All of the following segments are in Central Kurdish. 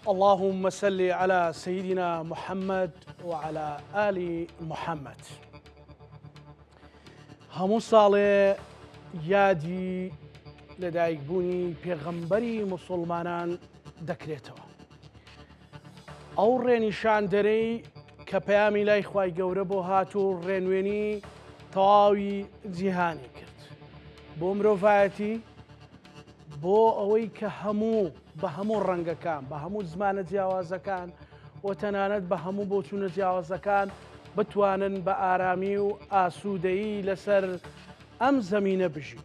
اللهم صل علی سیدنا محمد و علی آل محمد هەموو ساڵێ یادی لەدایکبوونی پێغەمبەری مسلمانان دەکرێتەوە ئەو ڕێنیشاندەرەی کە پەیامی لای خوای گەورە بۆ هات و ڕێنوێنی تەواوی جیهانی کرد بۆ مرۆڤایەتی بۆ ئەوەی کە هەموو بە هەموو ڕەنگەکان بە هەموو زمانە جیاوازەکان و تەنانەت بە هەموو بۆچوونە جیاوازەکان بتوانن بە ئارامی و ئاسوودەیی لەسەر ئەم زەمینە بژین.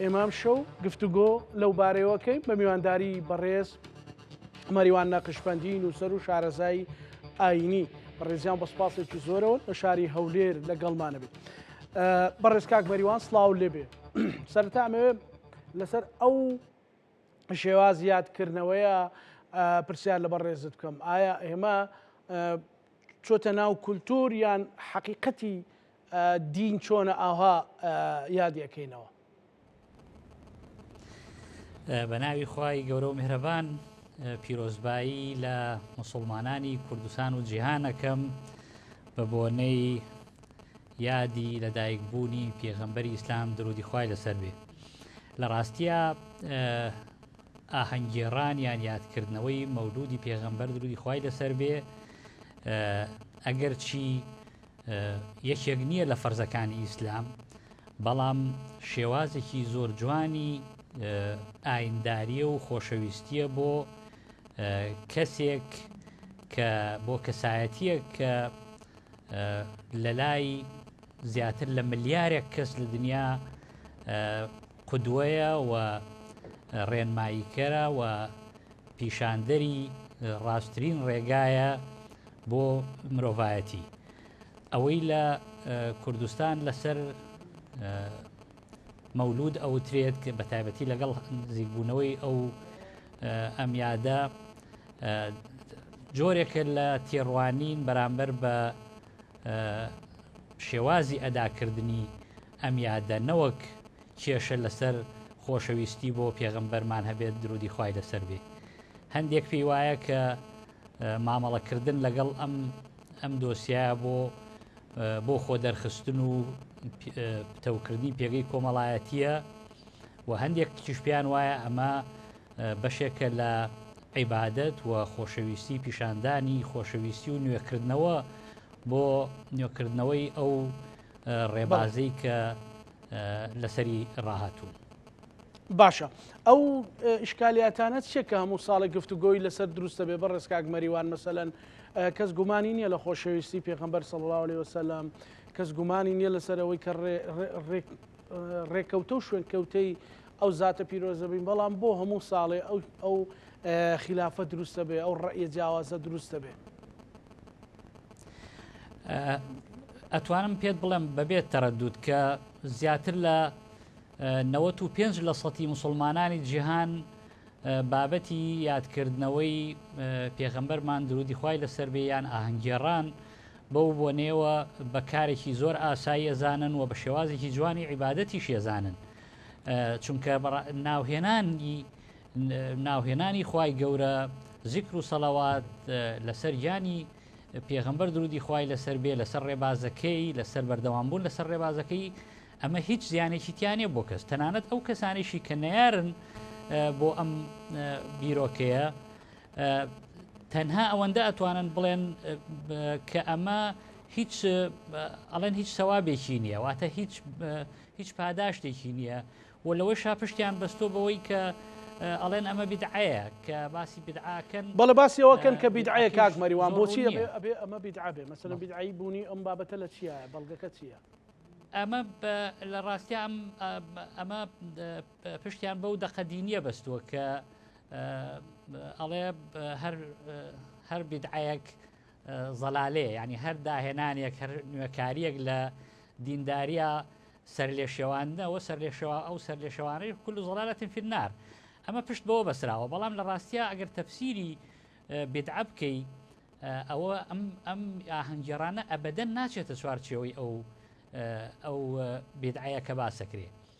ئێمە ئەمشەو گفتوگۆ لەو بارەیەوەکەی بە میوانداری بەڕێز مەریوان نەقشبندی نووسەر و شارەزایی ئاینی بەڕێزیان بە سپاسێکی زۆرەوە لە شاری هەولێر لەگەڵمانەبێت بەڕێز کاک مەریوان سلااو لێبێ سەرتا ئەمەوێ لەسەر ئەو شێوا زیادکردنەوەیە پرسیار لە بەڕێزت بکەم ئایا ئێمە چۆتە ناو کولتور یان حەقیقەتی دین چۆنە ئاها یادی ئەکەینەوە. بە ناوی خوای گەورە و میهرەبان پیرۆزبایی لە مسلمانانی کوردستان و جیهانەکەم بە بۆنەی یادی لەدایک بوونی پێغەمبەری ئیسلام درودی خوای لەسەر بێ لە ڕاستیە ئاهەنگێڕان یان یادکردنەوەی مەولودی پێغەمبەر درودی خوای لەسەر بێ ئەگەر چی یەکێک نییە لە فەرزەکانی ئیسلام بەڵام شێوازێکی زۆر جوانی ئاینداریە و خۆشەویستیە بۆ کەسێک کە بۆ کەسایەتیە کە لە لای زیاتر لە ملیارێک کەس لە دنیا قودوەیە و ڕێنماییکەرە و پیشاندەری ڕاستترین ڕێگایە بۆ مرۆڤایەتی ئەوەی لە کوردستان لەسەر مەولود ئەوترێت کە بە تایبەتی لەگەڵ نزیکبوونەوەی ئەو ئەم یادە جۆرێکە لە تێڕوانین بەرامبەر بە شێوازی ئەداکردنی ئەم یادە نەوەک کێشە لەسەر خۆشەویستی بۆ پێغەمبەرمان هەبێت درودی خی لەسەر بێ هەندێک پێی وایە کە مامەڵەکردن لەگەڵ ئەم ئەم دۆسیە بۆ بۆ خۆ دەرخستن و پتەوکردنی پێگەی کۆمەڵایەتیە و هەندێک تیشپیان وایە ئەمە بەشێکە لە عیبادەت و خۆشەویستی پیشاندانی خۆشەویستی و نوێکردنەوە بۆ نوێکردنەوەی ئەو ڕێبازەی کە لەسەری ڕاهاتوون باشە ئەو ئشکالیاتانە چیە کە هەموو ساڵی گفتوگۆی لەسەر دروستە بێ بە ڕێزکاک مەریوان مەسەەن کەس گومانی نییە لە خۆشەویستی پێخەمبەر سەڵاو لێ وسلام کەس گومانی نییە لەسەرەوەی کە ڕێک ڕێکەوتە و شوێنکەوتەی ئەو زاتە پیرۆزە بین، بەڵام بۆ هەموو ساڵێ ئەو خیلافە دروست دەبێ، ئەو ڕەئیە جیاوازە دروست دەبێ. ئەتوانم پێت بڵێم بەبێت تەرەدود کە زیاتر لە 95 لە سەتی مسلمانانی جیهان بابەتی یادکردنەوەی پێغەمبەرمان درودی خی لەسەر بێیان ئاهەنگێڕان بەو بۆنەیەوە بە کارێکی زۆر ئاسایی ئەزانن و بە شێوازێکی جوانی عیباەتیش ێزانن چونکە ناوهێنانی ناوهێنانی خی گەورە زیکر و سەڵاوات لەسەر گیانی پێغمبەر درودی خی لەسەر بێ لەسەر ڕێبازەکەی لەسەر بەردەوام بوون لەسەر ڕێبازەکەی ئەمە هیچ زیانێکی تیانە بۆ کەس تەنانەت ئەو کەسانێکی کە نەیارن بۆ ئەم بیرۆکەیە تەنها ئەوەندە ئەتوانن بڵێن کە ئەمە هیچ ئەڵێن هیچ سەوابێکی نییە واتە هیچ هیچ پاداشتێکی نییە و لەوەی شاپشتیان بەستۆ بەوەی کە ئەڵێن ئەمە بدعەیە کە باسی بدعاکەن بەڵە باسیەوەکەن کە بدعەیە کاک مەریوان بۆچی ئەمە بدعابێ مەسەن بدعایی بوونی ئەم بابەتە لە چیە بەڵگەکە چییە؟ ئەمە لە ڕاستیا ئەمە پشتیان بەو دەقە دینیە بەستووە کە ئەڵێ هەر بیدعەیەک زەلالێ ینی هەر داهێنانێک هەر نوێکاریەک لە دینداریە سەر لێ شێواندنەوە سەر لێ شێوا ئەو سەر لێ شێوانەی کول زڵالەتن فنار ئەمە پشت بەوە بەسراوە بەڵام لە ڕاستە ئەگەر تەفسیری بدعە بکەی ئەوە ئەم ئەم ئاهەنگێرانە ئەبدەن ناچێتە چوارچێەوەی ئەو ئەو بدعەیە کە باسەکرێ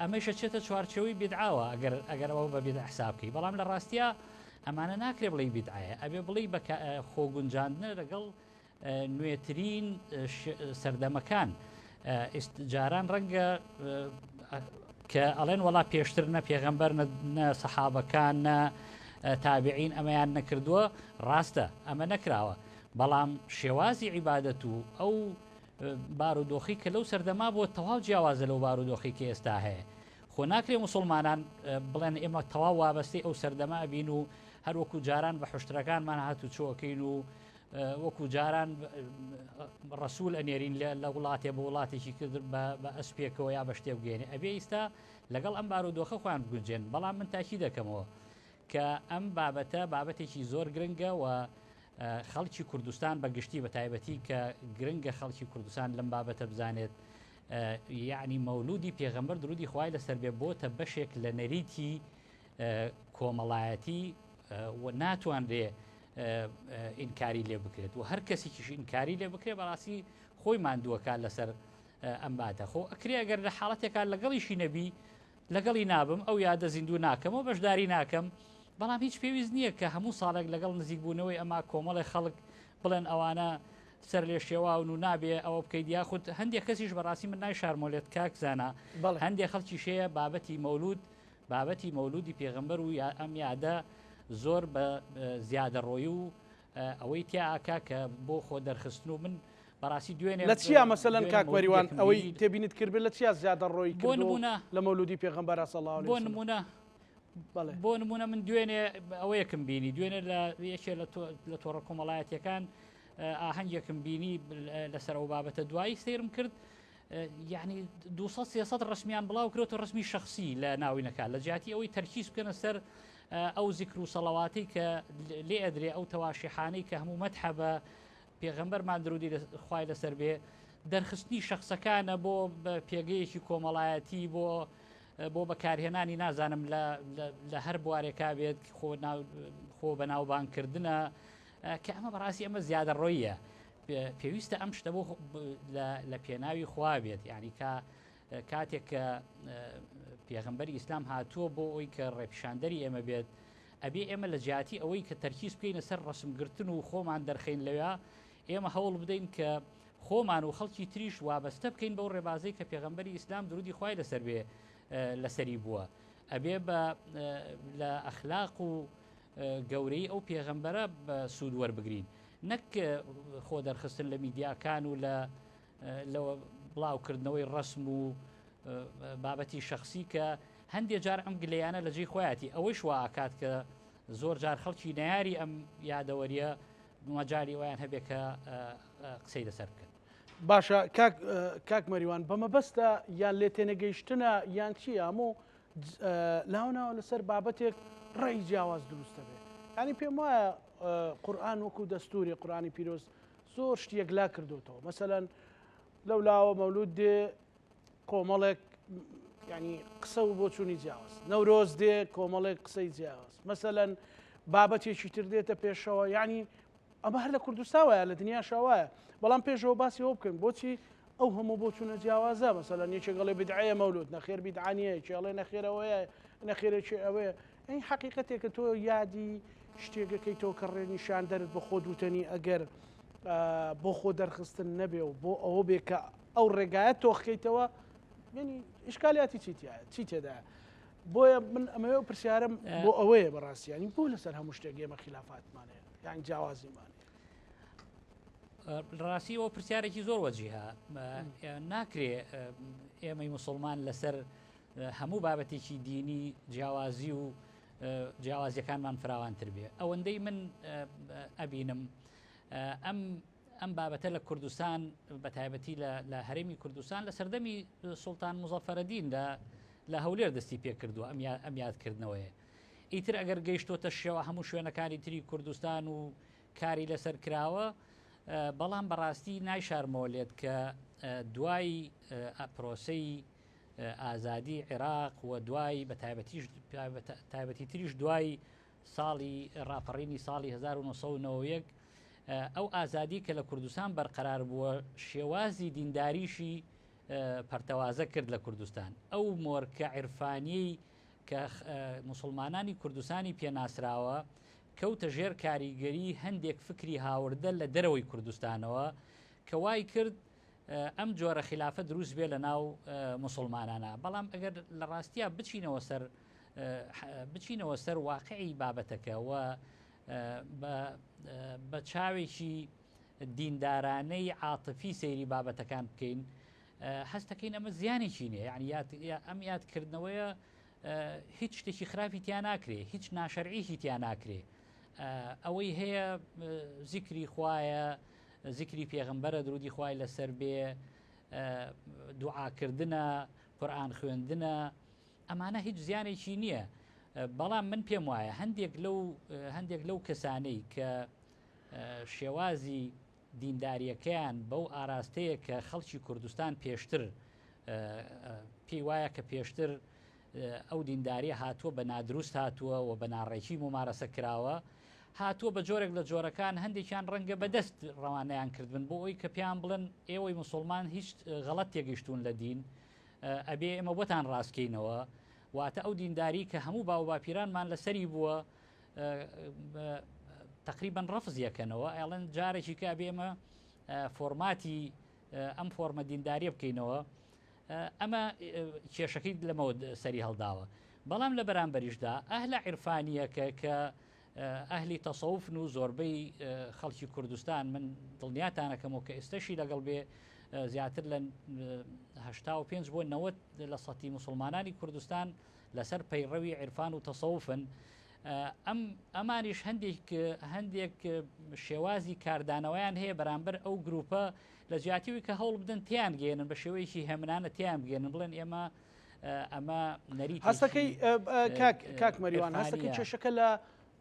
ئەمەیش ئەچێتە چوارچێوەی بیدعەوە ئەگەر ئەگەر ئەوە بە بیدعە حساب بکەی بەڵام لە ڕاستیا ئەمانە ناکرێ بڵێی بیدعەیە ئەبێ بڵێی بە خۆگونجاندنە لەگەڵ نوێترین سەردەمەکان جاران ڕەنگە کە ئەڵێن وڵا پێشتر نە پێغەمبەر نە سەحابەکان نە تابعین ئەمەیان نەکردووە ڕاستە ئەمە نەکراوە بەڵام شێوازی عیبادەت و ئەو بارودۆخی کە لەو سەردەما بووە تەواو جیاوازە لەو بارودۆخی کە ئێستا هەیە خۆ ناکرێ مسلمانان بڵێن ئێمە تەواو وابەستەی ئەو سەردەما بین و هەروەکو جاران بە حشتەکانمان هات و چۆکەین و وەکو جاران ڕسوول ئەنێرین لە وڵاتێ بە وڵاتێکی کرد بە ئەسپێکەوە یا بە شتێ بگەێنێ ئەبێ ئیستا لەگەڵ ئەم بار و دۆخە خۆیان بگونجێن بەڵام من تاکی دەکەمەوە کە ئەم بابەتە بابەتێکی زۆر گرنگە و خەڵکی کوردستان بە گشتی بە تایبەتی کە گرنگە خەڵکی کوردستان لەم بابەتە بزانێت یعنی مەولودی پێغەمبەر درودی خوای لەسەر بێ بۆتە بەشێک لە نەریتی کۆمەڵایەتی و ناتوانرێ ئینکاری لێ بکرێت و هەر کەسێکیش ئینکاری لێ بکرێت بەڕاستی خۆی مادووەکە لەسەر ئەم باتە خۆ ئەکرێ ئەگەر لە حاڵەتێکا لەگەڵیشی نەبی لەگەڵی نابم، ئەو یادە زیندوو ناکەمەوە، بەشداری ناکەم، بەڵام هیچ پێویست نییە کە هەموو ساڵێک لەگەڵ نزیکبوونەوەی ئەمە کۆمەڵێ خەڵک بڵێن ئەوانە سەرلێشێواون و نابێ ئەوە بکەیت، یاخود هەندێک کەسیش بەڕاستی من ناوی شارمۆلێت کاک زانا، هەندێک خەڵکیش هەیە بابەتی مەولود، بابەتی مەولودی پێغەمبەر و ئەم یادە زۆر بە زیادەڕۆیی و ئەوەی تیا ئاکا کە بۆ خۆ دەرخستن و من بەڕاستی دوێنێ لە چیا مەسەلەن کاک مەریوان ئەوەی تێبینیت کردبێت لە چیا زیادە ڕۆی بۆ نمونە لە مەولودی پێغەمبەر صلی الله علیه و سلم بۆ نمونە بۆ نمونە من دوێنێ ئەوەیەکم بینی دوێنێ لە یەکێ لە تۆڕە کۆمەڵایەتەکان ئاهەنگێکم بینی لەسەر ئەو بابەتە دوایی سیرم کرد یعنی 200 ڕسمیان بڵاو کرێت و ڕسمی شخصی لە ناوینەکە لە جیاتی ئەوەی تەرکیز بکەنە سەر ئەو زیکر و سەڵەواتەی کە لێ ئەدرێ ئەو تەواشیحانەی کە هەموو مەتحە بە پێغەمبەرمان درودی خوای لەسەر بێ دەرخستنی شخصەکانە بۆ پێگەیەکی کۆمەڵایەتی بۆ بۆ بەکارهێنانی نازانم لە هەر بوارێکا بێت خۆ بەناوبانکردە کە ئەمە بەڕاستی ئەمە زیادە ڕۆیە پێویستە ئەم شتە بۆ لە پێناوی خوا بێت یعنی کە کاتێک کە پێغمبەری ئیسلام هاتووە بۆ ئەوی کە ڕێپیشاندەری ئێمە بێت ئەبێ ئێمە لە جیاتی ئەوەی کە تەرکیز بکەینە سەر ڕسمگرتن و خۆمان دەرخین لەوێ ئێمە هەوڵ بدەین کە خۆمان و خەڵکی تریش وابەستە بکەین بەو ڕێبازەی کە پێغمبەری ئیسلام درودی خی لەسەر بێ لەسەری بووە ئەبێ بە لە ئەخلاق و گەورەی ئەو پێغمبەرە بە سوود وەربگرین نەک خۆ دەرخستن لە میدیاکان و لە لە بڵاو کردنەوەی ڕەسم و بابەتی شخصی کە هەندێک جار ئەم گلەیانە لە جێی خۆیاتی ئەوەی شواکات کە زۆر جار خەڵکی ناری ئەم یادەوەریە مەجای وایان هەبێت کە قسەی لەسەر بکەن باشە کاک مەریوان بە مەبەستە یان لێ تێنەگەیشتنە یان چی هەموو لاوناوە لەسەر بابەتێک ڕێی جیاواز دروستە بێت ینی پێم وایە قورآان وەکو دەستوری قورانی پیرۆست زۆر شت یەکلا کردۆتەوە مەسەەن لەو لاوە مەولود دێ کۆمەڵێک ینی قسە و بۆ چوونی جیاواز نەورۆز دێ کۆمەڵێک قسەی جیاواز مەسەەن بابەتێکی تر دێتە پێشەوە ینی ئەمە هەر لە کوردستان وایە لە دنیا شاوایە بەڵام پێشەوە باسی ئەو بکەین بۆچی ئەو هەموو بۆ چوونە جیاوازە مەسەەن یەکێکڵێ بدعەیە مەولود نەخێر بیدعاانیە کێڵێ نەخێرەوەیە نەخێرێکی ئەوەیە ئەی حەقیقەتێکە تۆ یادی شتێگەکەیتەوە کە ڕێنیشاندەرت بە خۆت وتەنی ئەگەر بۆ خۆ دەرخستن نەبێ و بۆ ئەوە بێ کە ئەو ڕێگایە تۆخکەیتەوە ینی ئشکالیاتی چیتیایە چی تێدایە بۆیە من ئەمەوە پرسیارم بۆ ئەوەیە بەڕاستیانی بۆ لەسەر هەموو شتێک ئێمە خلافاتمانەیە یان جیاوازیمان ڕاستی ئەو پرسیارێکی زۆر وەجیها ناکرێ ئێمەی مسلمان لەسەر هەموو بابەتێکی دینی جیاوازی و جیاوازیەکانمان فراوانتر بێ ئەوەندەی من ئەبینم ئەم ئەم بابەتە لە کوردستان بە تایبەتی لە هەرێمی کوردستان لە سەردەمی سلتان مزەفەرەدین لە لە هەولێر دەستی پێکردووە ئەم ئەم یادکردنەوەیە ئیتر ئەگەر گەیشتۆتە شێوە هەموو شوێنەکانی تری کوردستان و کاری لەسەر کراوە بەڵام بەڕاستی نایشارمەوە لێت کە دوای پرۆسی ئازادی عێراق و دوای بە تایبەتیش تایبەتی تریش دوای ساڵی ڕاپەڕینی ساڵی 1990 ئەو ئازادی کە لە کوردستان بەرقەرار بووە شێوازی دینداریشی پەرتەوازە کرد لە کوردستان ئەو مۆرکە عرفانی کە مسلمانانی کوردستانی پێناسراوە کەوتە ژێر کاریگەری هەندێک فکری هاوردە لە دەرەوەی کوردستانەوە کە وای کرد ئەم جۆرە خلافە دروست بێ لە ناو مسلمانانە بەڵام ئەگەر لە ڕاستیا بچینەوە سەر بچینەوە سەر واقعی بابەتەکە و بە چاوێکی دیندارانەی عاتفی سەیری بابەتەکان بکەین هەستەکەین ئەمە زیانێکی نیە یعنی ئەم یادکردنەوەیە هیچ شتێکی خراپی تیا ناکرێ هیچ ناشەرعیشی تیا ناکرێ ئەوەی هەیە زیکری خوایە زیکری پێغمبەرە درودی خوای لەسەر بێ دوعاکردە قورآان خوێندنە ئەمانە هیچ زیانێکی نییە بەڵام من پێم وایە هەندێک لەو هەندێک لەو کەسانەی کە شێوازی دینداریەکەیان بەو ئاراستەیە کە خەڵکی کوردستان پێشتر پێی وایە کە پێشتر ئەو دینداریە هاتووە بە نادروست هاتووە و بە ناڕێکی مومارەسە کراوە، هاتووە بە جۆرێک لە جۆرەکان هەندێکیان ڕەنگە بە دەست ڕەوانەیان کردبن بۆ ئەوی کە پێیان بڵێن ئێوەی موسوڵمان هیچ غەڵەت تێگەیشتوون لە دین ئەبێ ئێمە بۆتان ڕاستکەینەوە واتە ئەو دینداری کە هەموو باو باپیرانمان لەسەری بووە تقریبان ڕفز یەکەنەوە ئەڵەن جارێکی کە بێمە فۆرماتی ئەم فۆرمە دینداریە بکەینەوە ئەمە کێشەکەی لەمەوە سەری هەڵداوە. بەڵام لە بەرامبەریشدا ئەهلە عیرفانییەکە کە ئەهلی تەسەوفن و زۆربەی خەڵکی کوردستان من دڵنیاتانەکەمەوە کە ئێستەشی لەگەڵ بێ زیاتر لە هشتا و پێنج بۆ نەوەت لە سەتی مسلمانانی کوردستان لەسەر پەیڕەوی عیرفان و تەسەوفن ئەم ئەمانیش هەندێک هەندێک شێوازی کاردانەوەیان هەیە بەرامبەر ئەو گروپە لە جیاتی ئەوی کە هەوڵ بدەن تێیان گەیەنن بە شێوەیەکی هێمنانە تێیان بگەێنن بڵێن ئێمە ئەمە نەری هەستەکەی کاک مەریوان هەستەکەی کێشەکە لە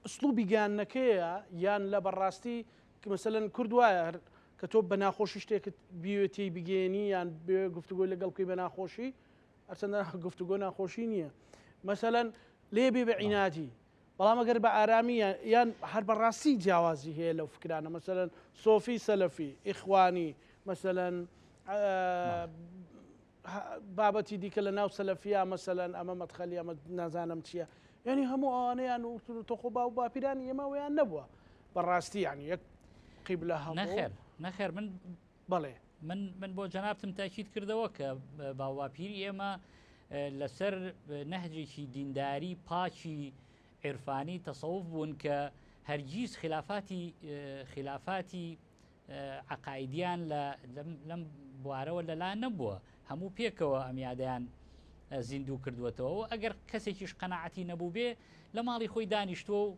ئسلوبی گەیانەکەیە یان لە بەڕاستی کمەسەلەن کورد وایە هەر کە تۆ بە ناخۆشی شتێکت بیوێتی بگەێنی یان بێ گفتوگۆی لەگەڵ بکەی بە ناخۆشی ئەرچەندە گفتوگۆ ناخۆشی نییە مەسەەن لێ بێ بە عیناتی بەڵام ئەگەر بە ئارامی یان هەر بە ڕاستی جیاوازی هەیە لەو فکرانە مەسەلەن سۆفی سەلەفی ئیخوانی مەسەلەن بابەتی دیکە لە ناو سەلەفیا مەسەلەن ئەمە مەدخەلی ئەمە نازانم چییە یعنی هەموو ئەوانەیان و تۆخۆ باو باپیرانی ئێمە ویان نەبووە بەڕاستی یان یەک قیب لە هەموو نەخێر نەخێر من بەڵێ. من من بۆ جەنابتم تاکید کردەوە کە باوباپیری ئێمە لەسەر نەهجێکی دینداری پاکی عێرفانی تەسەوف بوون کە هەرگیز خلافاتی خلافاتی عقاعدیان لە لەم بوارەوە لەلا نەبووە هەموو پێکەوە ئەم یادیان زیندوو کردوێتەوە و ئەگەر کەسێکیش قەنەعەتی نەبوو بێ لە ماڵی خۆی دانیشتووە و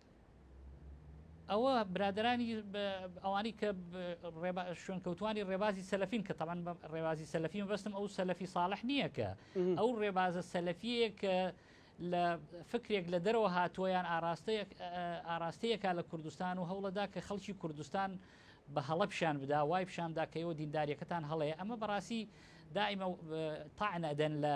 ئەوە برادرانی ئەوانی کە شوێنکەوتانی ڕێبازی سەلفین کە تەمان ڕێبازی سەلفیم بەستم ئەو سەلفی ساڵح نییە کە ئەو ڕێبازە سەلفیە کە لە فکرێک لە دەرەوە هاتووەیان ئاراستەیەک ئاراستەیەکە لە کوردستان و هەوڵەدا کە خەڵکی کوردستان بە هەڵە پیشان بدا وای پیشانداکەەوە دینداریەکەتان هەڵەیە ئەمە بەڕاستی دائیمە تاعن ئەدەن لە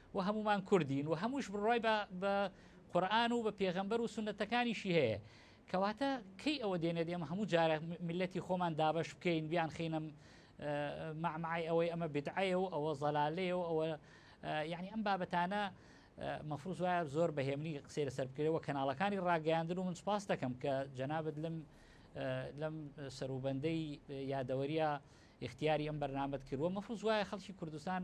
وە هەموومان کوردین و هەمووش بڕوای بە بە قورئان و بە پێغەمبەر و سوننەتەکانیشی هەیە کەواتە کەی ئەوە دێنێت ئێمە هەموو جارە میللەتی خۆمان دابەش بکەین بیان خینە مەعمەعی ئەوەی ئەمە بدعەیە و ئەوە زەلالەیە و ئەوە یعنی ئەم بابەتانە مەفروز وایە زۆر بەهێمنی قسەی لەسەر بکرێەوە کەناڵەکانی ڕاگەیاندن و من سپاس دەکەم کە جەنابەت لەم لەم سەروبەندەی یادەوەریە اختیاری ئەم بەرنامەت کردوە مەفروز وایە خەڵکی کوردستان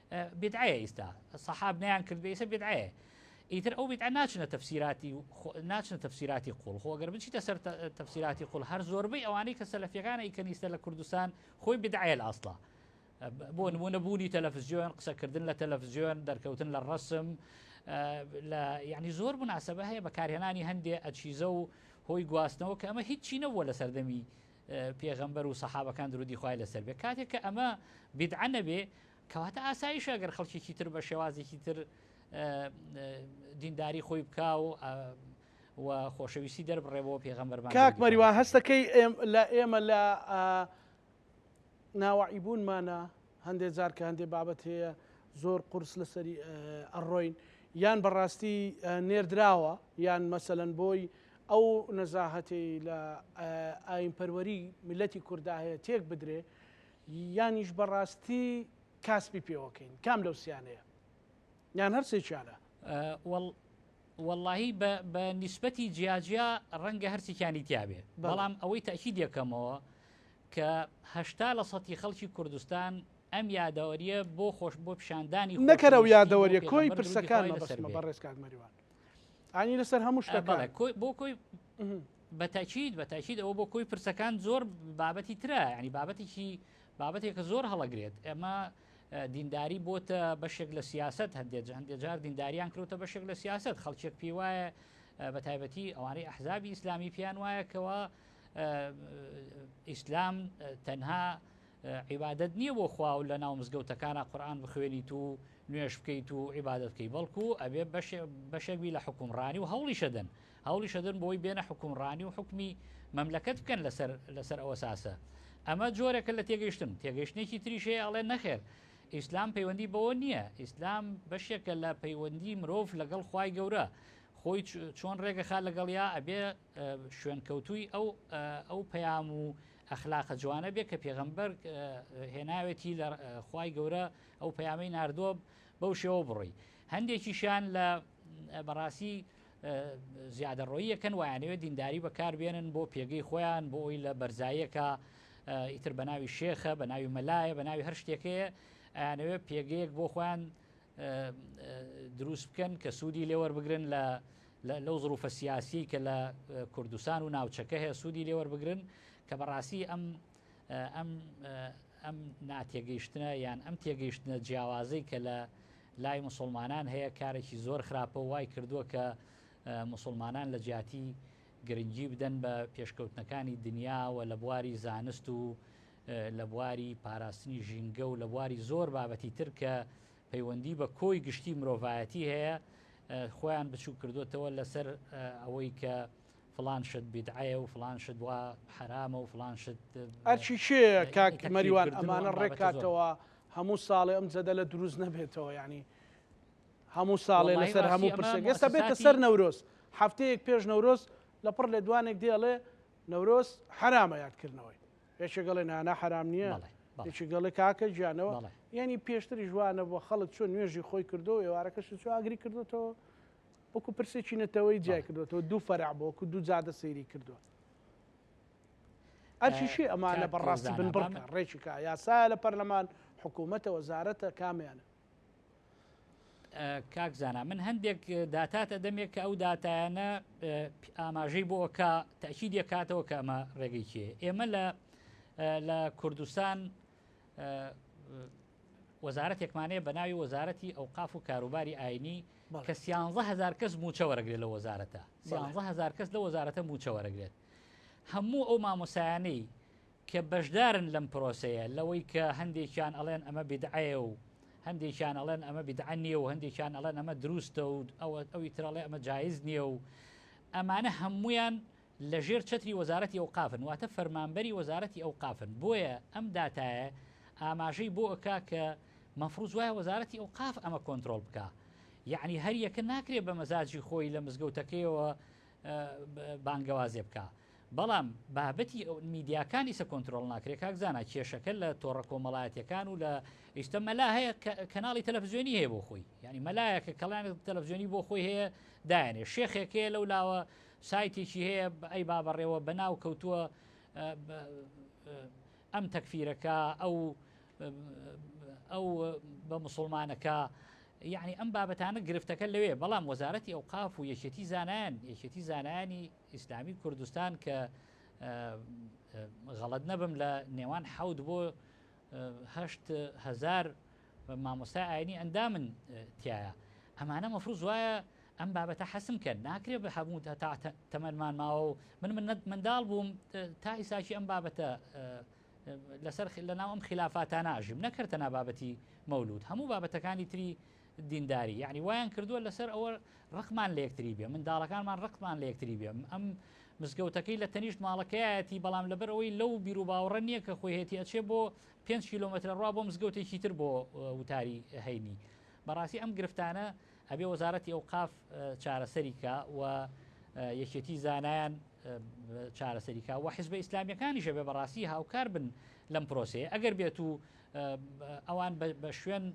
بیدعەیە ئیستا سەحاب نیان کرد بێسە بیدعەیە ئیتر ئەو بیدعە ناچنە تەفسیراتی ناچنە تەفسیراتی قوڵ خۆگەر بچیتە سەر تەفسیراتی قوڵ هەر زۆربەی ئەوانەی کە سەلفیەکانە ئیکەنیستە لە کوردستان خۆی بدعەیە لە ئەسڵە بۆ نمونە بوونی تەلەفزیۆن قسەکردن لە تەلەفزیۆن دەرکەوتن لە ڕسم لە یعنی زۆر مناسبە هەیە بەکارهێنانی هەندێ ئەچیزە و هۆی گواستنەوە کە ئەمە هیچی نەبووە لە سەردەمی پێغەمبەر و سەحابەکان درودی خوای لەسەر بێ کاتێک کە ئەمە بیدعە نەبێ کەواتە ئاسایش ئەگەر خەڵکیی تر بە شێوازێکی تر دینداری خۆی بکا و و خۆشەویستی دەربڕێ بۆ پێغەمبەر کاک مەریوان هەستەکەی لە ئێمە لە ناوەعیبوونمانە هەندێ جار کە هەندێ بابەت هەیە زۆر قورس لەسەری ئەڕۆین یان بەڕاستی نێردراوە یان مەسەلەن بۆی ئەو نەزاهەتەی لە ئاینپەروەری میلەتی کوردا هەیە تێک بدرێ یانیش بەڕاستی کاسپی پێوەکەین کام لەو سیانەیە یان هەرسێکیانە وەڵ وەڵاهی بە بە نیسبەتی جیا جیا ڕەنگە هەرچێکیانی تیاێ بەڵام ئەوەی تاکید یەکەمەوە کە هەشتا لە سەتی خەڵکی کوردستان ئەم یادەوەریە بۆ خۆش بۆ پیشاندانی نەکەرە و یادەوەریە کۆی پرسەکان بەسەرمە بە ڕێز کاک مەریوان ئانی لەسەر هەموو شتەکە بۆ کۆی بە تاکید بە تاکید ئەوە بۆ کۆی پرسەکان زۆر بابەتی ترە ینی بابەتێکی بابەتێکە زۆر هەڵەگرێت ئەمە دینداری بۆتە بەشێک لە سیاست هەندێک هەندێک جار دینداریان کرۆتە بەشێک لە سیاست خەڵکێک پێی وایە بە تایبەتی ئەوانەی ئەحزابی ئیسلامی پێیان وایە کەەوە ئیسلام تەنها عیبادت نییە بۆ خوا و لە ناو مزگەوتەکانە قورآان بخوێنیت و نوێش بکەیت و عیبادت بکەی بەڵکو ئەبێ بەشێک بی لە حکومڕانی و هەوڵی شەدەن هەوڵیشەدەن بۆی بێنە حوکمڕانی و حوکمی مەملەکەت بکەن لەسەر لەسەر ئەوەساسە ئەمە جۆرێکە لە تێگەیشتن تێگەیشتنێکی تریش هەیە ئەڵێ نەخێر ئیسلام پەیوەندی بەوە نییە ئیسلام بەشێکە لە پەیوەندی مرۆڤ لەگەڵ خوای گەورە خۆی چۆن ڕێگەخا لەگەڵیا ئەبێ شوێنکەوتووی ئەو ئەو پەیام و ئەخلاقە جوانە بێ کە پێغەمبەر هێناوێتی لە خوای گەورە ئەو پەیامی نردووە بەو شێوە بڕی هەندێکیشان لە بەڕاستی زیادەڕۆیی یەکەن وایانەوێت دینداری بەکاربێنن بۆ پێگەی خۆیان بۆ ئەوی لە بەرزایەکە ئیتر بە ناوی شێخە بە ناوی مەلایە بە ناوی هەر شتێکەیە ئەیانەوێت پێگەیەک بۆ خۆیان دروست بکەن کە سوودی لێوەربگرن لە لەو ظروفە سیاسی کە لە کوردستان و ناوچەکە هەیە سوودی لێوەربگرن کە بەڕاستی ئەم ئەم ئەم ناتێگەیشتنە یان ئەم تێگەیشتنە جیاوازەی کە لە لای مسلمانان هەیە کارێکی زۆر خراپە و وای کردووە کە مسلمانان لە جیاتی گرنگی بدەن بە پێشکەوتنەکانی دنیاوە لە بواری زانست و لە بواری پاراستنی ژینگە و لە بواری زۆر بابەتی تر کە پەیوەندی بە کۆی گشتی مرۆڤایەتی هەیە خۆیان بچوو کردوتەوە لەسەر ئەوەی کە فڵان شت بیدعەیە و فڵان شت وا حەرامە و فڵان شت ئەرکی کێیە کاک مەریوان ئەمانە ڕێک کاتەوە هەموو ساڵێ ئەم جەدەلە دروست نەبێتەوە ینی هەموو ساڵێ واللهی لەسەر هەموو ڕاستی ئەمە پرسێک ئێستا بێتە مؤسساتی سەر نەورۆز هەفتەیەک پێش نەورۆز لە پڕ لێدوانێک دێڵێ نەورۆز حرامە یادکردنەوەی یەکێک گەڵێ نانا حرام نییە بەڵێ بەڵێ یەکی گەڵێ کاکە گیانەوە بەڵێ یعنی پێشتری ژوانە بۆ خەڵک چۆن نوێژی خۆی کردو و ئێوارەکەش چۆ ئاگری کردوێتەوە وەکو پرسێکی نەتەوەی جای کردوەوە دوو فەرع بۆ وەکو دوو جادە سەیری کردووە ئەرشیشی ئەمانە بەڕاستی بن بڕ ڕێکیکە یاسا لە پەرلەمان حکوومەتە وەزارەتە کامیانە کاک زانا من هەندێک داتاتە دەمێک کە ئەو دااتانە ئاماژەی بۆ ئەوکە تاکی دێکاتەوە کە ئەمە ڕێگەی چێ ئێمە لە لە کوردستان وەزارەتێکمانەیە بە ناوی وەزارەتی ئەو قاف و کاروباری ئاینی کە سیانزە هەزار کەس مووچە وەرەگرێت لە وەزارەتە سیانزە هەزار کەس لە وەزارەتە مووچە وەرەگرێت هەموو ئەو مامۆسایانەی کە بەشدارن لەم پرۆسەیە لەوەی کە هەندێکیان ئەڵێن ئەمە بدعەیە و هەندێکیان ئەڵێن ئەمە بدعە نییە و هەندێکیان ئەڵێن ئەمە دروستە و ئەوە ئەوی ترەڵێ ئەمە جایز نییە و ئەمانە هەمویان لە ژێر چەتری وەزارەتی ئەوقافن واتە فەرمانبەری وەزارەتی ئەوقافن بۆیە ئەم داتایە ئاماژەی بۆ ئەکا کە مەفروز وایە وەزارەتی ئەوقاف ئەمە کۆنترۆڵ بکا یعنی هەر یەکە ناکرێ بە مەزاجی خۆی لە مزگەوتەکەیەوە بانگەوازێ بکە بەڵام بابەتی ئەو میدیاکانی سە کۆنتترۆل ناکرێ کاکزانە کێشەکە لە تۆڕە کۆمەڵایەتەکان و لە ئیشتە مەلا هەیە کەناڵی تەلەڤزیۆنی هەیە بۆ خۆی ینی مەلایەکە کەڵیان تەلەڤزیۆنی بۆ خۆی هەیە دایانێ شێخێکەیە لەو لاوە سایتێکی هەیە ئەی با بەڕێوە بەناو کەوتووە ئەم تەکفیرەکە ئەو ئەو بە مسلمانەکە یعنی ئەم بابەتانە گرفتەکە لەوێ بەڵام وەزارەتی ئەو قاف و یەکێتی زانایان یەکێتی زانایانی ئیسلامی کوردستان کە غەڵت نەبم لە نێوان حەوت بۆ هەشت هزار مامۆستای ئاینی ئەندامن تیایا ئەمانە مەفروز وایە ئەم بابەتە حەسم کەن ناکرێ بە هەموو تا تەمەمان ماوە و من من منداڵ بووم تا ئیساکی ئەم بابەتە لەسەر لە ناو ئەم خلافاتاناژیم نەکردە نابابەتی مەولود هەموو بابەتەکانی تری دینداری یعنی وایان کردووە لەسەر ئەوە ڕقمان لە یەکتری بێ منداڵەکانمان ڕقمان لە یەکتری بێ ئەم مزگەوتەکەی لە تەنیشت ماڵەکەیەتی بەڵام لەبەر ئەوەی لەو بیرروباوڕە نییە کە خۆیهێتی ئەچێ بۆ پێنج کیلۆمەترە ڕوا بۆ مزگەوتێکی تر بۆ وتاری هەینی بەڕاستی ئەم گرفتانە ئەبێ وەزارەتی ئەوقاف چارەسەریکە و یەکێتی زانایان چارەسەریکا و حزب ئیسلامیەکانی ژەبێ بەڕاستی هاوکار بن لەم پرۆسێ ئەگەر بێت و ئەوان بە شوێن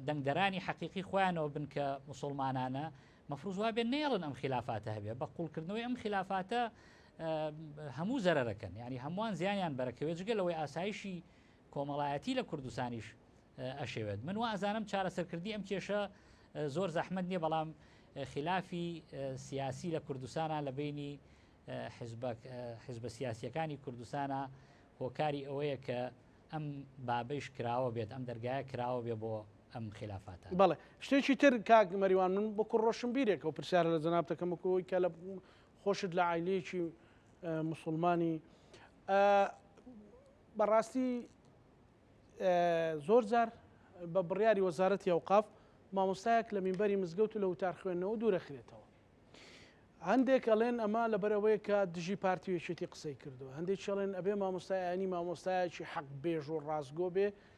دەنگدەرانی حەقیقی خۆیانەوە بن کە مسلمانانە مەفروزوا بێن نێڵن ئەم خلافاتە هەبێ بە قوڵکردنەوەی ئەم خلافاتە هەموو زەرەرەکەن یعنی هەمووان زیانیان بەرەکەوێت جگە لەوەی ئاسایشی کۆمەڵایەتی لە کوردستانیش ئەشێوێت من وازانم چارەسەرکردی ئەم کێشە زۆر زەحمد نییە بەڵام خلافی سیاسی لە کوردستانە لە بینی حزبە سیاسیەکانی کوردستانە هۆکاری ئەوەیە کە ئەم بابەیش کراوە بێت ئەم دەرگایە کراوە بێ بۆ ئەم خلافاتە بەڵێ شتێکی تر کاک مەریوان من بۆ کوڕۆشم بیرێکەوە پرسیارە لە جەنابتەکەمەکەەوەی کە لە خۆشت لە عایلەیەکی موسوڵمانی ئە بەڕاستی زۆر جار بە بڕیاری وەزارەتی ئەوقاف مامۆستایەک لە مینبەری مزگەوت و لە وتار خوێندنەوە دوورەخرێتەوە هەندێک ئەڵێن ئەمە لەبەر ئەوەیە کە دژی پارتی و یەکێتی قسەی کردووە هەندێک چڵێن ئەبێ مامۆستایانی مامۆستایەکی حەق بێژ و ڕاستگۆ بێ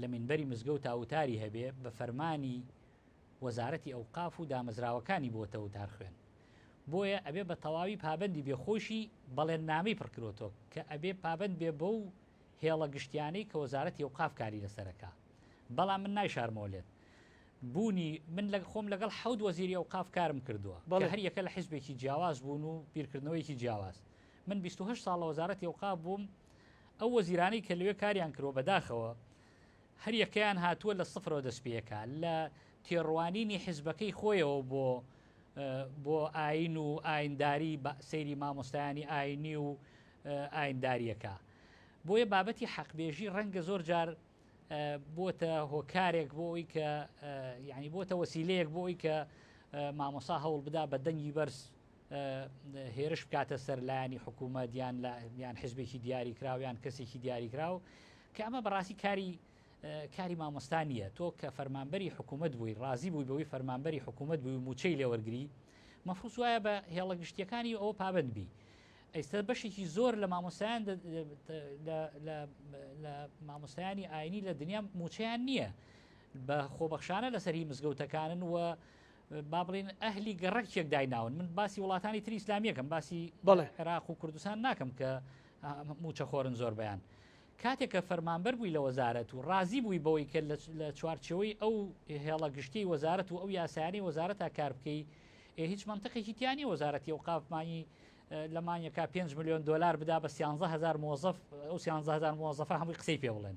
لە مینبەری مزگەوتا وتاری هەبێ بە فەرمانی وەزارەتی ئەوقاف و دامەزراوەکانی بۆتە وتار خوێن بۆیە ئەبێ بە تەواوی پابەندی بێ خۆشی بەڵێننامەی پڕکرۆتۆ کە ئەبێ پابەند بێ بەو هێڵە گشتیانەی کە وەزارەتی ئەوقاف کاری لەسەرەکا بەڵام من نایشارمەوە لێت بوونی من لەگ خۆم لەگەڵ حەوت وەزیری ئەوقاف کارم کردووە بەڵێ هەر یەکە لە حیزبێکی جیاواز بوون و بیرکردنەوەیەکی جیاواز من 28 ساڵ لە وەزارەتی ئەوقاف بووم ئەو وەزیرانەی کە لەوێ کاریان کرۆ بەداخەوە هەر یەکەیان هاتووە لە سفرەوە دەست پێەکە لە تێڕوانینی حیزبەکەی خۆیەوە بۆ بۆ ئاین و ئاینداری سەیری مامۆستایانی ئاینی و ئاینداریەکە بۆیە بابەتی حەقبێژی ڕەنگە زۆر جار بۆتە هۆکارێک بۆ ئەوی کە یعنی بۆتە وەسیلەیەک بۆ ئەوی کە مامۆسا هەوڵ بدا بە دەنگی بەرز هێرش بکاتە سەر لایەنی حکوومەت یان یان حزبێکی دیاریکراو یان کەسێکی دیاریکراو کە ئەمە بەڕاستی کاری کاری مامۆستا نییە تۆ کە فەرمانبەری حکوومەت بووی ڕازی بووی بەوەی فەرمانبەری حکوومەت بووی موچەی لێوەرگری مەفروس وایە بە هێڵە گشتیەکانی ئەوە پابند بی ئەیستا بەشێکی زۆر لە مامۆستایان لە مامۆستایانی ئاینی لە دنیا موچەیان نییە بە خۆبەخشانە لەسەری مزگەوتەکانن و با بڵێن ئەهلی گەڕەکێک دایناون من باسی وڵاتانی تری ئسلامیەکەم باسی بەڵێ عێراق و کوردستان ناکەم کە موچە خۆرن زۆر بەیان کاتێک کە فەرمانبەر بووی لە وەزارەت و ڕازی بووی بەوەی کە لە چوارچەوەی ئەو هێڵە گشتی وەزارەت و ئەو یاسانی وەزارەتا کار بکەی هیچ منتەقێکی تیانی وەزارەتی و قاپمانی لە مانیەکە 5 میلیۆن دلار بدا بە 1هزار مۆزف ئەو 1هزار مۆزەفە هەمووی قسەی پێ بڵێن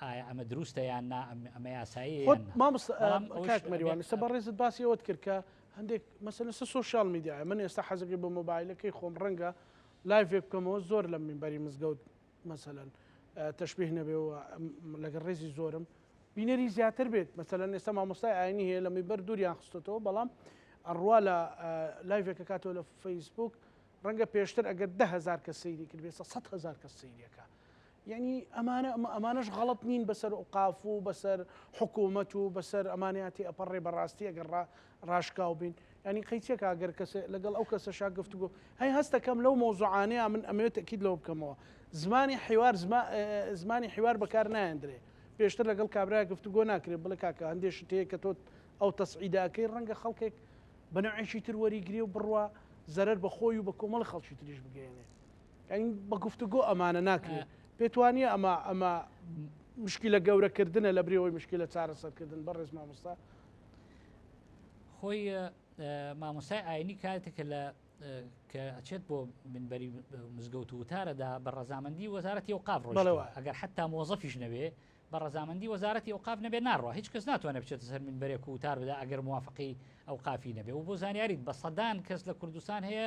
ئایا ئەمە دروستە یان نا ئەمە یاسایی خۆت یان نا. مامۆستا ە، بەڵام ئەوەش کاک ئەبێ مەریوان ئێستا بەڕێزت باسی ئەوەت کرد کە هەندێک مەسەلەن سە سۆشیال میدیایە من ئێستا حەزەکەی بە مۆبایلەکەی خۆم ڕەنگە لایڤێک بکەمەوە زۆر لە مینبەری مزگەوت مەسەلەن ە تەشبیه نەبێ و م لەگەڵ ڕێزی زۆرم بینەری زیاتر بێت مەسەلەن ئێستا مامۆستای ئاینی هەیە لە مینبەر دووریان خستۆتەوە بەڵام ئەڕوا لە ە لایڤێک ئەکاتەوە لە فەیسبووک ڕەنگە پێشتر ئەگەر دە هەزار کەس سەیری کردبێ ئێستا سەد هەزار کەس سەیری ئەکا یەعنی ئەمانە ئەمانەش غەڵەت نین بەسەر ئوقاف و بەسەر حکوومەت و بەسەر ئەمانیاتی ئەپەڕێ بەڕاستی ئەگەر ڕا ڕاشکاو بین ینی قەیچێکا گەر کەس لەگەڵ ئەو کەسە شا گفتگو هەی هەستەکەم لەو مۆزوعانەیە من ئەمەوێت تەکیید لەوە بکەمەوە زمانی حیوار زمانی حیوار بەکار نایەندرێ پێشتر لەگەڵ کابراای گفتگۆ ناکرێت بڵێ کاکە هەندێک شتەیە کە تۆت ئەو تەسعیداکەی ڕەنگە خەڵکێک بەنەوعێکی تر وەریگرێ و بڕوا زەرەر بە خۆی و بە کۆمەڵ خەڵکی تریش بگەێنێ یعنی بە گفتوگۆ ئەمانە ناکرێت پێت وانە ئەمە ئەمە مشکلە گەورەکردنە لە برەوەی مشکلە چارەسەرکردن بەڕێز مامۆستا خۆی مامۆسای ئاینی کاتێکە لە کە ئەچێت بۆ منبەری مزگەوت و وتارەدا بە ڕزامەندی وەزارەتی و قاف ڕۆژەوە ئەگەر حتا مۆزەفیش نەوێ بە ڕزامەندی وەزارەتی و قاف نەبێ ناڕۆ هیچ کەس ناتوانێت بچێتە سەر من بەرێک و وتار بدا ئەگەر موواافقی ئەو قافی نەبێ و بۆ زانیاریت بە سەدان کەس لە کوردستان هەیە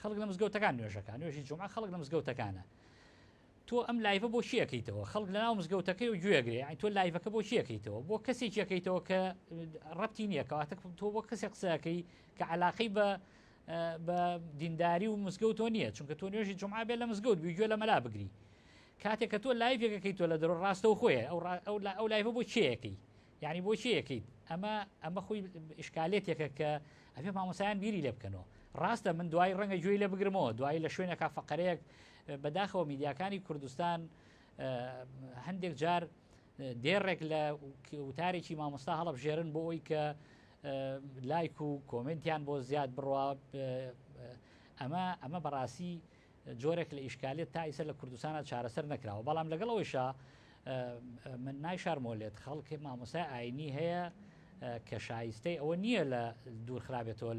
خەڵک لە مزگەوتەکان نوێژەکان نوێژی جمعە خەڵک لە مزگەوتەکانە تۆ ئەم لایڤە بۆ چیەکەیتەوە خەڵک لە ناو مزگەوتەکەی و گوێگرێ ئەین تۆ لایڤەکە بۆ چیەکەیتەوە بۆ کەسێک یەکەیتەوە کە ڕەتی نییەکەواتە تۆ بۆ کەسێک قسەکەی کە علاقی بە بە دینداری و مزگەوتۆ نییە چونکە تۆ نوێژی جمعە بێ لە مزگەوت بی گوێ لە مەلا بگری کاتێک کە تۆ لایڤێکەکەی تۆ لە دەرۆ ڕاستەو خۆیە ئەو ئەو لایڤە بۆ چیەکەی یانی بۆ چی ئەکەیت ئەمە ئەمە خۆی ئشکالێتێکە کە ئەێ مامۆسایان بیری لێ بکەنەوە ڕاستە من دوای ڕەنگە گوێی لە بگرمەوە دوای لە شوێنەکە فقرەیەک بەداخەوە میدیاکانی کوردستان هەندێک جار دێڕێک لە وتارێکی مامۆستا هەڵبژێرن بۆ ئەوی کە لایک و کۆمنتیان بۆ زیاد بڕوا ئەمە ئەمە بەڕاستی جۆرێک لە ئیشکالیەت تا ئیسە لە کوردستانە چارەسەر نەکراوە بەڵام لەگەڵ ئەوەیشا من نایشارمۆلێت خەڵکی مامۆسای ئاینی هەیە کە شایستەی ئەوە نییە لە دوور خراپێتەوە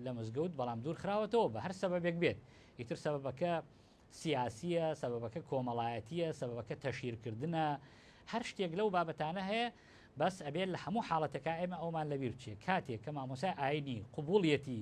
لە مزگەوت بەڵام دوور خراوەتەوە بە هەر سەبەبێک بێت ئیتر سەبەکە سیاسیە سەبەکە کۆمەڵایەتیە سەبەکە تەشیرکردە هەر شتێک لەو بابەتانە هەیە بەس ئەبێت لە هەموو حاڵەتەکە ئێمە ئەومان لەبیر بچێت کاتێک کە مامۆسای ئاینی قوبولیەتی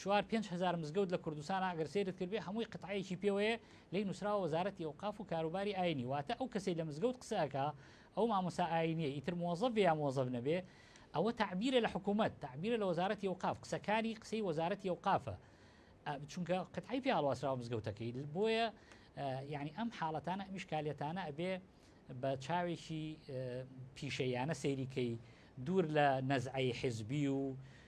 چوار پێنج هەزار مزگەوت لە کوردستانە ئەگەر سەیرت کردبێ هەمووی قتعەیەکی پێوەیە لێی نوسراوە وەزارەتی ئەوقاف و کاروباری ئاینی واتە ئەو کەسەی لە مزگەوت قسە ئەکا ئەو مامۆستا ئاینیە ئیتر مۆزەف بێ یا مۆزەف نەبێ ئەوە تەعبیرە لە حکومەت تەعبیرە لە وەزارەتی ئەوقاف قسەکانی قسەی وەزارەتی ئەوقافە چونکە قتعی پێ هەڵواسراوە مزگەوتەکەی بۆیە یعنی ئەم حاڵەتانە ئەم شکالیەتانە ئەبێ بە چاوێکی پیشەیانە سەیریکەی دوور لە نەزعی حزبی و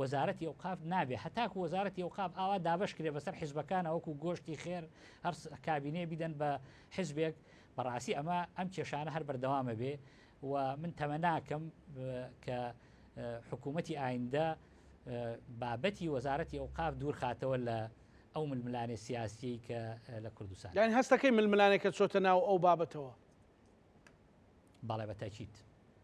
وەزارەتی ئەوقاف نابێ هەتاکو وەزارەتی ئەوقاف ئاوا دابەش کرێ بەسەر حیزبەکانا وەکو گۆشتی خێر هەر کابینەیە بیدەن بە حیزبێک بەڕاستی ئەمە ئەم کێشانە هەر بەردەوامە بێ و من تەمە ناکەم کە حکوومەتی ئایندە بابەتی وەزارەتی ئەوقاف دوورخاتەوە لە ئەو ململانێ سیاسیی کە لە کوردستان یان هەستەکەی ململانێکە چۆتە ناو ئەو بابەتەوە بەڵێ بە تاکیت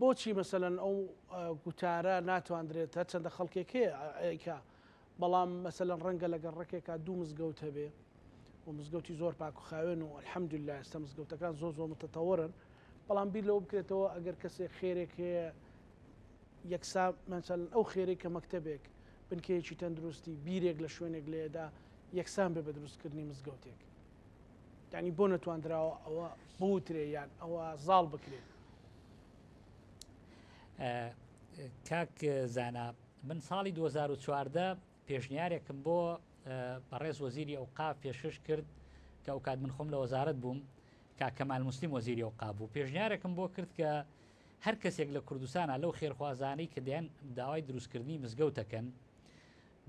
بۆچی مەسەلەن ئەو گوتارە ناتواندرێت هەرچەندە خەڵکێک هەیە ئەیکا بەڵام مەسەلەن ڕەنگە لەگەڵ ڕێکێکا دوو مزگەوت هەبێ و مزگەوتی زۆر پاک و خاوێن و الحەمدللا ئێستا مزگەوتەکان زۆر زۆر متتەوەرن بەڵام بیر لەوە بکرێتەوە ئەگەر کەسێک خێرێک هەیە یەکسا مەسەلەن ئەو خێرەی کە مەکتەبێک بنکەیەکی تەندروستی بیرێک لە شوێنێک لێدا یەکسان بێ بە دروستکردنی مزگەوتێک یانی بۆ نەتواندراوە ئەوە بوترێ یان ئەوە زاڵ بکرێت کاک زانا من ساڵی 2014 پێشنیارێکم بۆ بەڕێز وەزیری ئەو قاف پێشش کرد کە ئەو کات من خۆم لە وەزارت بووم کاکەمال مسلیم وەزیری ئەو قابوو پێشنیارێکم بۆ کرد کە هەر کەسێک لە کوردستانە لەو خێرخوازانی کە دەیان داوای دروستکردنی مزگەوتەکەن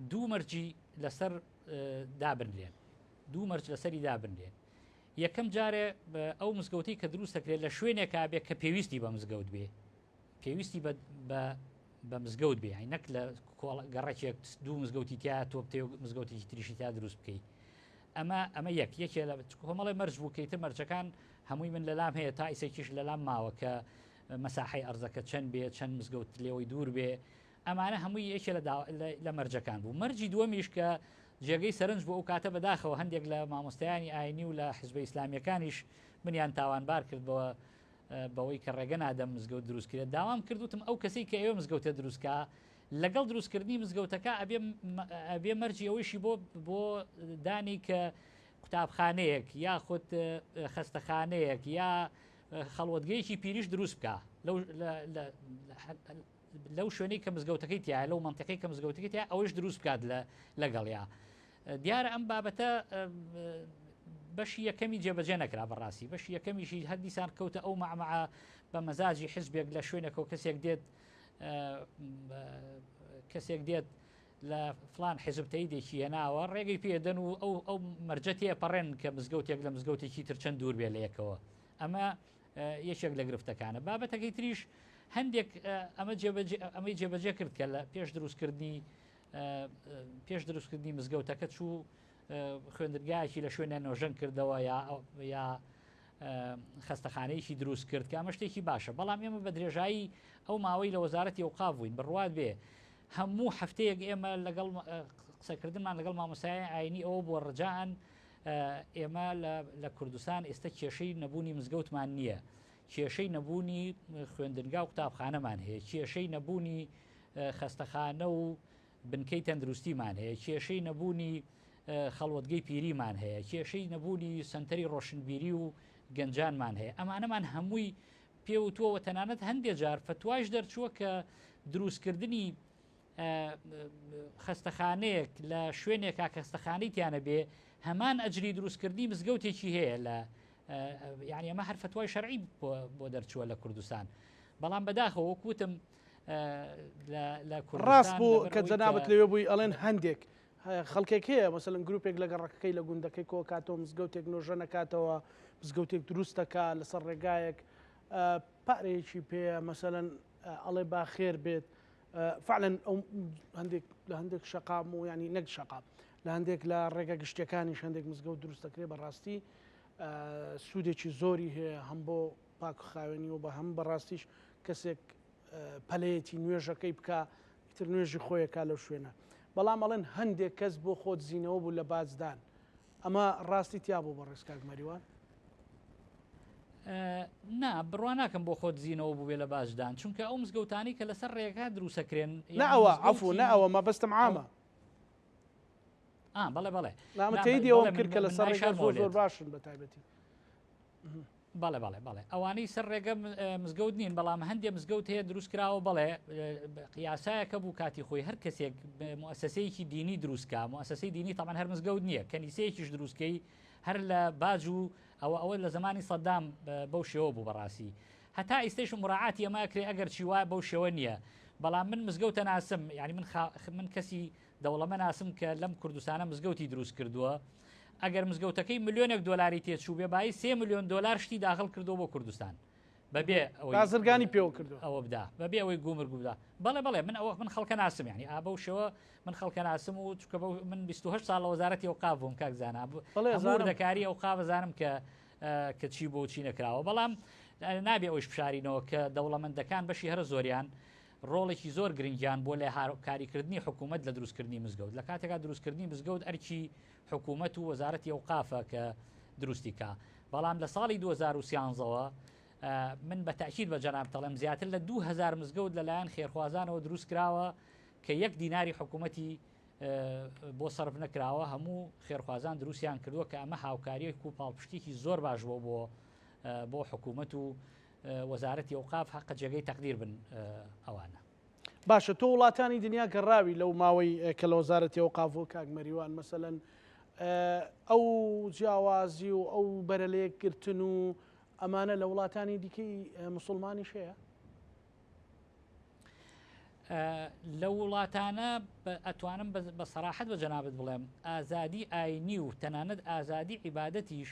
دوو مەرجی لەسەر دابنرێن دوو مەرج لەسەری دابنرێ. یەکەم جارێ ئەو مزگەوتەی کە دروست دەکرێت لە شوێنێکا بێ کە پێویستی بە مزگەوت بێ پێویستی بە مزگەوت بێ نەک لە گەڕەکێک دوو مزگەوتی تیا تۆ بتێ مزگەوتێکی تریشی تا دروست بکەیت ئەمە ئەمە یەک یەکێ لە کۆمەڵی مەرج بووکەیت مەرجەکان هەمووی من لەلام هەیە تا ئیسێکیش لەلام ماوە کە مەساحی ئەرزەکە چەند بێ چەند مزگەوت لێەوەی دوور بێ ئەمانە هەمووی یەکێ لە دا لە لە مەرجەکان بوو. مەرجی دووەمیش کە جێگەی سەرنج بوو ئەو کاتە بە داخەوە هەندێک لە مامۆستایانی ئاینی و لە حزبە ئیسلامیەکانیش منیان تاوانبار کرد بەوە بەوەی کە ڕێگە نادەم مزگەوت دروست کرێت داوام کرد وتم ئەو کەسی کە ئێوە مزگەوتە دروست کا لەگەڵ دروستکردنی مزگەوتەکە ئەبێ مە- ئەبێ مەرجی ئەوەیشی بۆ بۆ دانی کە قوتابخانەیەک یاخود اه، خەستەخانەیەک یا اه، خەڵوەتگەیەکی پیریش دروست بکا لەو لە- لە- لە- لەو شوێنەی کە مزگەوتەکەی تایە لەو منتیقی کە مزگەوتەکەی تیا ئەوەش دروست بکات لە لەگەڵیا دیارە ئەم بابەتە بەشی یەکەمی جێبەجێ نەکرا بەڕاستی بەشی یەکەمیشی هەر دیسان کەوتە ئەو مەعمە بە مەزاجی حزبێک لە شوێنەکەەوە کەسێک دێت کەسێک دێت لە فلان حزبتەی دێکی هێناوە ڕێگەی پێدەن و ئەو ئەو مەرجەتێ پەڕێن کە مزگەوتێک لە مزگەوتێکی ترچەند دوور بێ لە یەکەوە ئەمە یەکێک لە گرفتەکانە. بابەتەکەی تریش هەندێک ئەمە جێبەجێ ئەمەی جێبەجێ کرد کە لە پێش دروستکردنی پێش دروستکردنی مزگەوتەکە چوو خوێندرگایەکی لە شوێنە نۆژەن کردەوە یا یا خستەخانەیەکی دروست کرد کە ئەمە شتێکی باشە بەڵام ئێمە بە درێژایی ئەو ماوەی لە وەزارەتی و قاڤین بڕوات بێ هەموو هەفتەیەک ئێمە لەگەڵ قسەکردمان لەگەڵ مامۆسای ئاینی ئەوە بووە ڕجان ئێمە لە کوردستان ئێستا کێشەی نەبوونی مزگەوتمان نییە کێشەی نەبوونی خوێندنگا و قوتابخانەمان هەیە کێشەی نەبوونی خەستەخانە و بنکەی تەندروستیمان هەیە کێشەی نەبوونی خەڵوتگەی پیریمان هەیە کێشەی نەبوونی سنتەری ڕۆشنبیری و گەنجانمان هەیە ئەمانەمان هەمووی پێوتووەوە تەنانەت هەندێک جار فتواش دەرچووە کە دروستکردنی خەستەخانەیەک لە شوێنێکا کەستەخانی تیانە بێ هەمان ئەجری دروستکردنی مزگەوتێکی هەیە لە یعنی ئەمە هەر فتوای شەرعی بۆ دەرچووە لە کوردستان بەڵام بەداخەوە کوتم لە کوڕاست بوو کە جەنابەت لەوێ بووی ئەڵێن هەندێک خەڵکێک هەیە مەسەن گروپێک لە گەڕەکەکەی لە گوندەکەی کۆکاتەوە مزگەوتێک نۆژە نەکاتەوە مزگەوتێک دروستەکە لەسەر ڕێگایەک پارەیەکی پێ مەسەەن ئەڵێ باخێر بێت فعلا ئەو هەندێک لە هەندێک شەقام و ینی نەک شەقام لە هەندێک لە ڕێگە گشتەکانیش هەندێک مزگەوت دروست دەکرێت بەڕاستی سوودێکی زۆری هەیە هەم بۆ پاک خاوێنی و بە هەم بەڕاستیش کەسێک پەلەیەتی نوێژەکەی بکە تر نوێژی خۆیەکە لەو شوێنە بەڵام ئەڵێن هەندێک کەس بۆ خۆت زیینەوە بوو لە بازدان ئەمە ڕاستی تیا بوو بەڕێز کاک مەریوان؟ نا بڕوا ناکەم بۆ خۆ دزینەوە بووێ لە باجدان چونکە ئەو مزگەوتانی کە لەسەر ڕێگا دروسەکرێن ناوە عفو ناوە مەبەستم عامە بەڵێ بەڵێ نامەتەیدیەوەم کرد کە لەسەر ڕێگا زۆر زۆر باشن بە تایبەتی بەڵێ بەڵێ بەڵێ ئەوانەی سەر ڕێگە مزگەوت نین بەڵام هەندێ مزگەوت هەیە دروست کراوە بەڵێ قیاسایەکە بوو کاتی خۆی هەر کەسێک مؤسسەیەکی دینی دروستکە مؤسسەی دینی تەمان هەر مزگەوت نییە کەنیسەیەکیش دروستکەی هەر لە باج و ئەوە ئەوە لە زمانی سەدام بەو شێوە بوو بەڕاستی هەتا ئیستش مراعات ئەمە کرێ ئەگەر چی وایە بەو شێوە نییە بەڵام من مزگەوتە ناسم یعنی من خا... من کەسی دەوڵەمە ناسم کە لەم کوردستانە مزگەوتی دروست کردووە ئەگەر مزگەوتەکەی ملیۆنێک دۆلاری تێچوو بێ بای سێ ملیۆن دۆلار شتی داخل کردو بۆ کوردستان بەبێ بازرگانی پێوە کرد ئەوە بدا بەبێ ئەوەی گومر گودا بەڵێ بەڵێ من ئەوە من خەڵکە ناسم ینی ئا بەو شێوە من خەڵکە ناسم و چکە من 28 ساڵ لە وەزارەتی و قاف بووم کاک زانا بڵێ دەکاری ئەو قاوەزانم کە کە چی بۆ چی نەکراوە بەڵام نابێ ئەوش بشارینەوە کە دەوڵەمەندەکان بەشی هەرە زۆریان ڕۆڵێکی زۆر گرنگیان بۆ لە هاوکاریکردنی حکوومەت لە دروستکردنی مزگەوت لە کاتێکا دروستکردنی مزگەوت ئەرکی حکوومەت و وەزارەتی ئەو قافە کە دروستیکە بەڵام لە ساڵی 2013ەوە من بە تاکیید بە جەناب تەڵم زیاتر لە 2000 مزگەوت لەلایەن خێرخوازانەوە دروست کراوە کە یەک دیناری حکوومەتی بۆ سرف نەکراوە هەموو خێرخوازان دروستیان کردووە کە ئەمە هاوکاریەک و پاڵپشتێکی زۆر باش بۆ بۆ بۆ حکوومەت و وەزارەتی ئەوقاف هەقە جێگەی تەقدیر بن ئەوانە. باشە تۆ وڵاتانی دنیا گەڕاوی لەو ماوەی کە لە وەزارەتی ئەوقاف بوو کاک مەریوان مەسەلەن ئەو جیاوازی و ئەو بەرە لە یەکگرتن و ئەمانە لە وڵاتانی دیکەی مسلمانیش هەیە؟ لە وڵاتانە ئەتوانم بە سەراحەت بە جەنابەت بڵێم ئازادی ئاینی و تەنانەت ئازادی عیباەتیش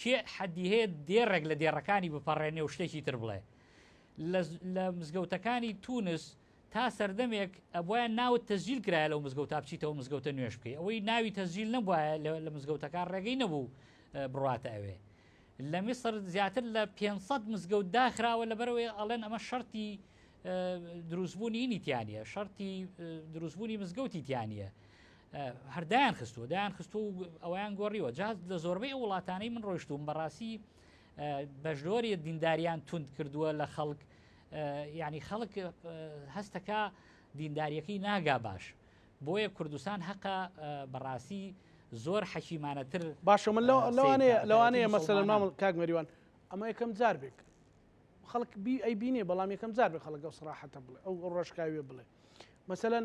کێ حەدی هەیە دێڕێک لە دێڕەکانی بپەڕێنێ و شتێکی تر بڵێ لە مزگەوتەکانی تونس تا سەردەمێک ئەبواە ناوت تەزیل کرایە لەو مزگەوت تا بچیتەوە مزگەوتە نوێش بکەی ئەوەی ناوی تەزیل نەبواە لە مزگەوتەکان ڕێگەی نەبوو بڕاتە ئەوێ لە میسر زیاتر لە 500 مزگەوت داخراوە لەبەرەوەی ئەڵێن ئەمە شەرتی دروستبوونی نیتیانە شەرتی دروستبوونی مزگەوتی تیانە هەر دایان خستووە دایان خستوو و ئەویان گۆڕیوە جا لە زۆربەی ئەو وڵاتانەی من ڕۆشتوم بەڕاستی بەشدۆری دینداریان تونند کردووە لە خەڵک ینی خەڵک هەستەکە دینداریەکەی ناگا باش بۆیە کوردستان هەقە بەڕاستی زۆر حەکیمانەتر باشە من لەوانەیە لەوانەیە مەسەلە مامل کاک مەریوان ئەمە یەکەم جار بێک خەڵک بی ئەی بینێ بەڵام یەکەم جار بێ خەڵک ئەو سراحەتە بڵێ ئەو ڕۆژکاوێ بڵێ مەسەەن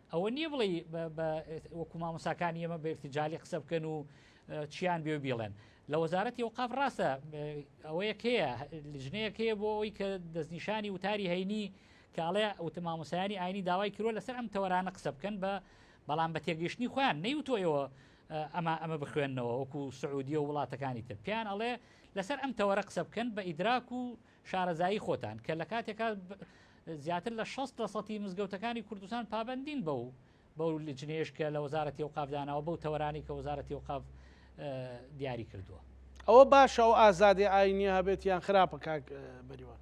ئەوە نییە بڵێی وەکو مامۆساکانی ئێمە بێکتی جاالی قسە بکەن و چیان بێ بیڵێن لە وەزارەتی ئەوقاف ڕاستە ئەوەیەک هەیە لژنەیەک هەیە بۆ ئەوی کە دەستنیشانی وتاری هەینی کاڵێ ئەوتەمامۆسایانی ئاینی داوای کرۆ لەسەر ئەم تەوەرانە قسە بکەن بە بەڵام بە تێگەیشتنی خۆیان نەیوتۆیەوە ئەمە ئەمە بخوێندنەوە وەکو سعودیە و وڵاتەکانی تر پیان ئەڵێ لەسەر ئەم تەوەرە قسە بکەن بە ئیدراک و شارەزایی خۆتان کە لە کاتێکا زیاتر لە 60 لە سەتی مزگەوتەکانی کوردستان پابندین بەو بەو لجنەیەش کە لە وەزارەتی ئەوقاف داناوە بەو تەوەرانی کە وەزارەتی ئەوقاف دیاری کردووە. ئەوە باشە ئەو ئازادی ئاینیە هەبێت یان خراپە کاک بەریوان؟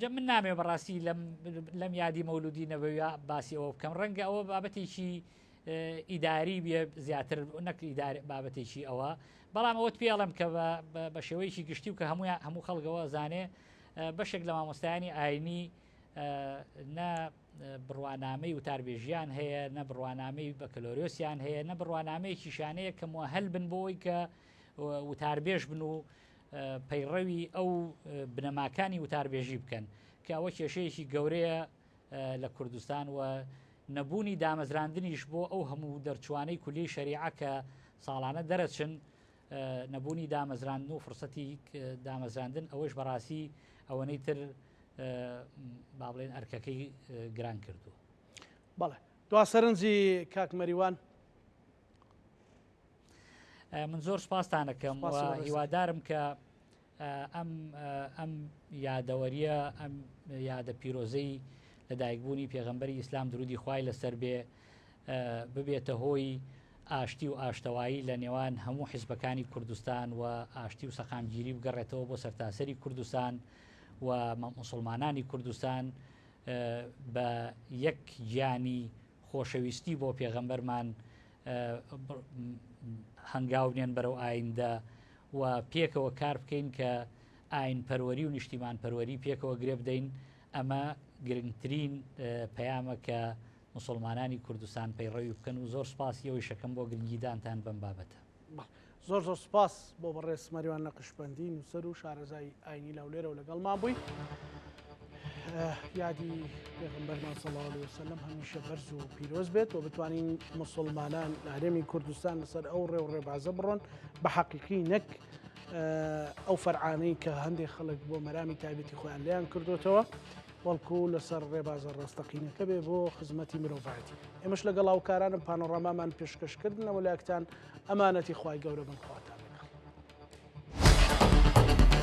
جە من نامێ بەڕاستی لەم لەم یادی مەولودی نەبەوە باسی ئەوە بکەم ڕەنگە ئەوە بابەتێکی ئیداری بە زیاتر نەکلی بابەتێکی ئەوە بەڵام ئەوت پێڵم کە بە شێوەیەکی گشتی و کە هەموو هەموو خەڵگەوە زانێ بەشێک لە مامۆستایانی ئاینی نە بڕوانامەی وتاربێژیان هەیە نە بڕوانامەی بەکەلۆریۆسیان هەیە نە بڕوانامەیەکی شانەیە کە موهل بن بۆی کە وتاربێژ بن و پەیڕەوی ئەو بنەماکانی وتاربێژی بکەن کە ئەوە کێشەیەکی گەورەیە لە کوردستان و نەبوونی دامەزراندنیش بۆ ئەو هەموو دەرچوانەی کولی شەریعە کە ساڵانە دەرەچن نەبوونی دامەزراندن و فرسەتی دامەزراندن ئەوەش بەڕاستی ئەوەنەی تر با بڵێن ئەرکەکەی گران کردووە بەڵێ دوا سەرنجی کاکمەریوان من زۆر سپاستان ئەکەم هیوادارم کە ئەم ئەم یادەوەریە ئەم یادە پیرۆزەی لە دایکبوونی پێغەمبەری ئیسلام درودی خوای لەسەر بێ ببێتە هۆی ئاشتی و ئاشتەوایی لە نێوان هەموو حیزبەکانی کوردستان و ئاشتی و سەقامگیری بگەڕێتەوە بۆ سەرتاسەری کوردستان و مسلمانانی کوردستان بە یەک گیانی خۆشەویستی بۆ پێغەمبەرمان هەنگاو بنێن بەرەو ئایندە و پێکەوە کار بکەین کە ئاین پەروەری و نیشتیمان پەروەری پێکەوە گرێ بدەین ئەمە گرنگترین پەیامە کە مسلمانانی کوردستان پەیڕەوی بکەن و زۆر سپاسی ئەوی شەکەم بۆ گرنگیدانتان بەم بابەتە زۆر زۆر سوپاس بۆ بەڕێز مەریوان نەقشبەندی نووسەر و شارەزای ئاینی لەولێرە و لەگەڵمان بووی یادی پێغمبەرمان سەڵاوی وسلم هەمیشە بەرز و پیرۆز بێت و بتوانین مسلمانان لە هەرێمی کوردستان لەسەر ئەو ڕێ و ڕێبازە بڕۆن بە حەقیقی نەک ئەو فەرعانەی کە هەندێک خەڵک بۆ مەرامی تایبەتی خۆیان لیان کردوتەوە وەڵکو لەسەر ڕێبازە ڕاستەقینەکە بێ بۆ خزمەتی مرۆڤایەتی ئێمەش لەگەڵ هاوکارانم پانۆڕامامان پێشکەشکردنەوە لاکتان ئەمانەتی خوای گەورە بن خواتان لەگەڵ.